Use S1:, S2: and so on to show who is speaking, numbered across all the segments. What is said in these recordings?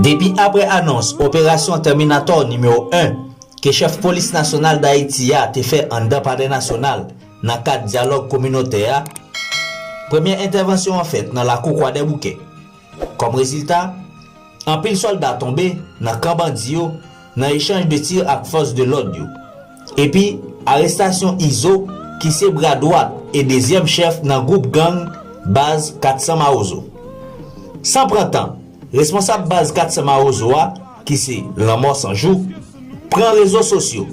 S1: Depi apre anons operasyon Tèminatò nimewo 1 ke chèf polis nasyonal Dayiti a te fè anndan palè nasyonal nan kad dyalòg kominotè a, premye entèvansyon an fèt nan lakou Kwadèboukè. Kòm rezilta, anpil sòlda tonbe nan kan bandi yo nan echanj de tir ak fòs de lòd yo. Epi, arestasyon Izo ki se bra dwat e dezyèm chèf nan gwoup gang Baz 400 Mawozo. San pran tan, responsab Baz 400 Mawozo a, ki se Lanmò 100 jou, pran rezo sosyo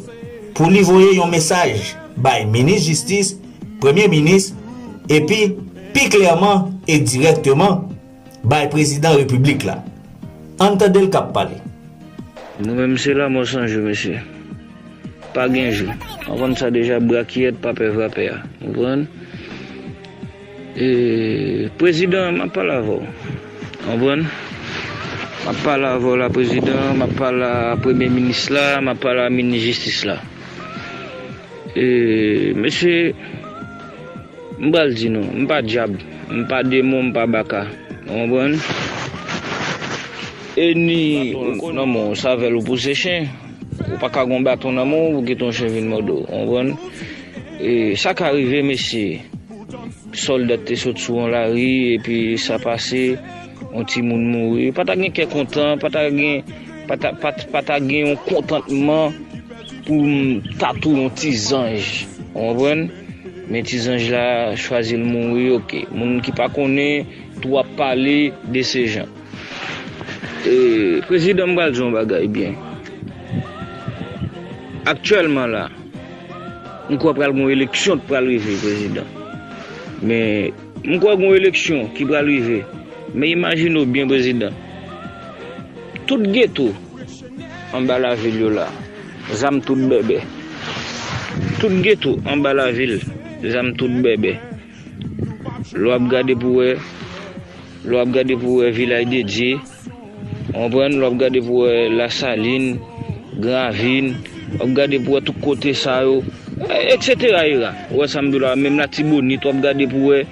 S1: pou li voye yon mesaj bay minis jistis, premye minis epi pi klèman e dirèkteman bay prezidan repiblik la. Ann tande l k ap pale. Nou menm
S2: se lanmò san jou mesye. Pa gen jou. Anvan sa deja brakiyèt pa pè vapè a. Konprann? Prezidan map pale avèw ou konprann map pale avèw la prezidan map pale a premye minis la map pale a minis jistis la mesye m pral di nou m pa djab m pa demon m pa baka ou konprann e ni nan men w savèl ou pouse chen ou paka gen yon baton nan men w pou kite yon chen vin mòde w ou konprann sa ka rive mesye. Soldat te sot sou yon lari epi sa pase, yon timoun mouri. Yo pa ta gen kè kontan, pa ta gen, pa ta, pa, pa ta gen yon kontantman pou yon tatou yon ti zanj. Ou konprann? Men ti zanj la chwazi l mouri oke. Moun ki pa konnen tou ap pale de se jan. E, prezidan m pral di yon bagay byen. Aktyèlman la. M kwè pral gen yon eleksyon k pral rive prezidan men m kwè gen yon eleksyon ki pral rive men imajine w byen prezidan tout geto anba lavil yo la zam tout bèbè tout geto anba lavil zam tout bèbè lè w ap gade pou w wè lè w ap gade pou w wè vilaj dedye. Ou konprann, wap gade pou wè lasalin, gran avin, wap gade pou wè tout kote sa yo, eksetera era. Ou wè sa m di w la a, menm latibonit wap gade pou wè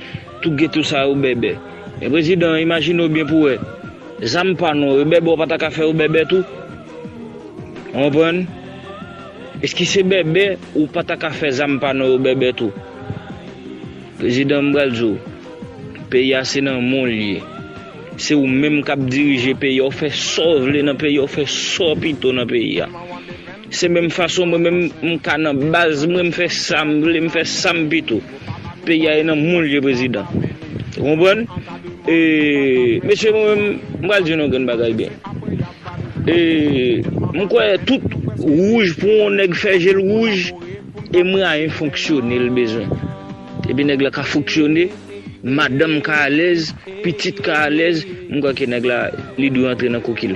S2: tout geto sa yo bèbè. Men prezidan, imajine w byen pou wè, zam pa nou yo bèbè ou pa ta ka fè yo bèbè tou? Ou konprann? Eskise bèbè ou pa ta ka fè zam pa nou yo bèbè tou? Prezidan m pral di w, peyi a se nan men w li ye. Se ou menm kap dirije peyi a ou fè sa ou vle nan peyi a ou fè sa ou pito nan peyi a se menm fason mwen menm m ka nan baz mwen m fè sa m vle m fè sa m pito peyi a e nan moun l ye prezidan ou konprann e mesye mwen menm m pral di nou yon grenn bagay byen e m kwè tout wouj pou yon nèg fè je l wouj e mwayen fonksyone l bezwen epi nèg la ka fonksyone. Madanm ka alèz, pitit ka alèz, m kwè ke nèg la li dwe antre nan kokil.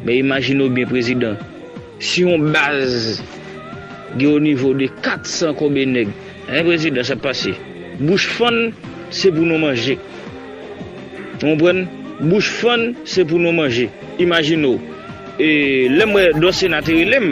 S2: Men imajine w byen prezidan, si yon baz gen o nivo de 400 konbe nèg, hein prezidan sa pase? Bouch fann se pou nou manje. Ou konprann? Bouch fann se pou nou manje. Imajine w. E lè m wè Dorcena te rele m.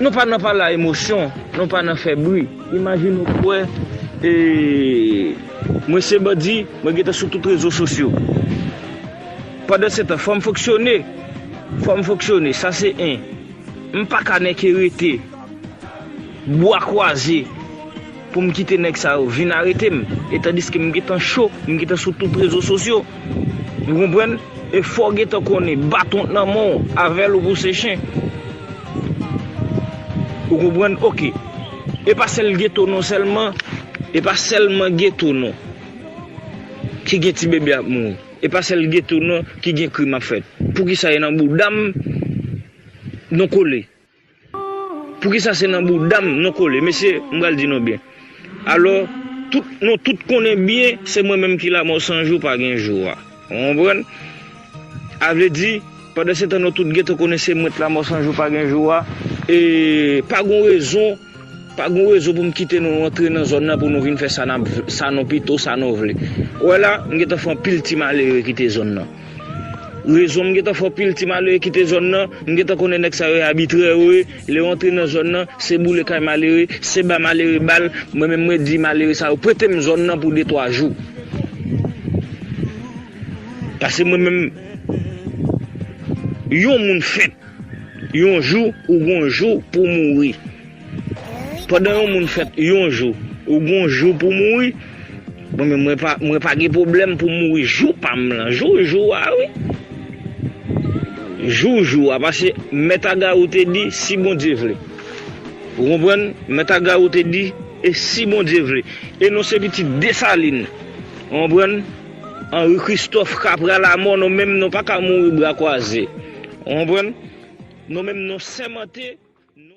S2: Nou pa nan pale a emosyon, nou pa nan fè bri. Imajine ou kwè e mwen se bandi, mwen gentan sou tout rezo sosyo. Pandansetan, fò m fonksyone, fò m fonksyone, sa se 1. M pa ka nèke rete bwa kwaze. Pou m kite nèg sa yo vin arete m e tandiske m gentan cho, m gentan sou tout rezo sosyo. Ou konprann? E fò w gentan konnen baton t nan men w avè l ou pou se chen. Ou konprann? Ok. E pa sèl geto non sèlman, e pa sèlman geto non ki gen ti bebe ap mouri. E pa sèl geto non ki gen krim ap fèt. Poukisa e nan bouda m nou kole? Poukisa se nan boudam nou kole mesye m pral di nou byen alò tout nou tout konnen byen se mwen menm ki lamò san jou pa gen jou a ou konprann avledi pandansetan nou tout gentan konnen se mwen t lamò san jou pa gen jou a e pa gon rezon pa gon rezon pou m kite nou antre nan zòn nan pou nou vin fè sa nou pito sa nou vle ou wè la m gentan fè anpil ti malere kite zòn nan. Rezon m gentan fò pil ti malere kite zòn nan, m gentan konnen nèg sa yo e abitrè yo ye, lè yo antre nan zòn nan, se boule kay malere, se ba malere bal, mwen menm mwen di malere sa yo prete m zòn nan pou de twa jou. Pase mwen menm yon moun fèt yon jou ou gon jou pou mouri. Pandan yon moun fèt yon jou, ou gon jou pou mouri, mwen menm mwen pa mwen pa gen pwoblèm pou mouri jou pam lan, jou jou a wi. Jou jou a pase mèt Agarou te di si Bondye vle. Ou konprann? Mèt Agarou te di e si Bondye vle. E non se pitit Desalin. Ou konprann? Anri Kristòf ka pra lamò nou menm nou pa ka mouri bra kwaze. Ou konprann? Nou menm nou sèmante nou.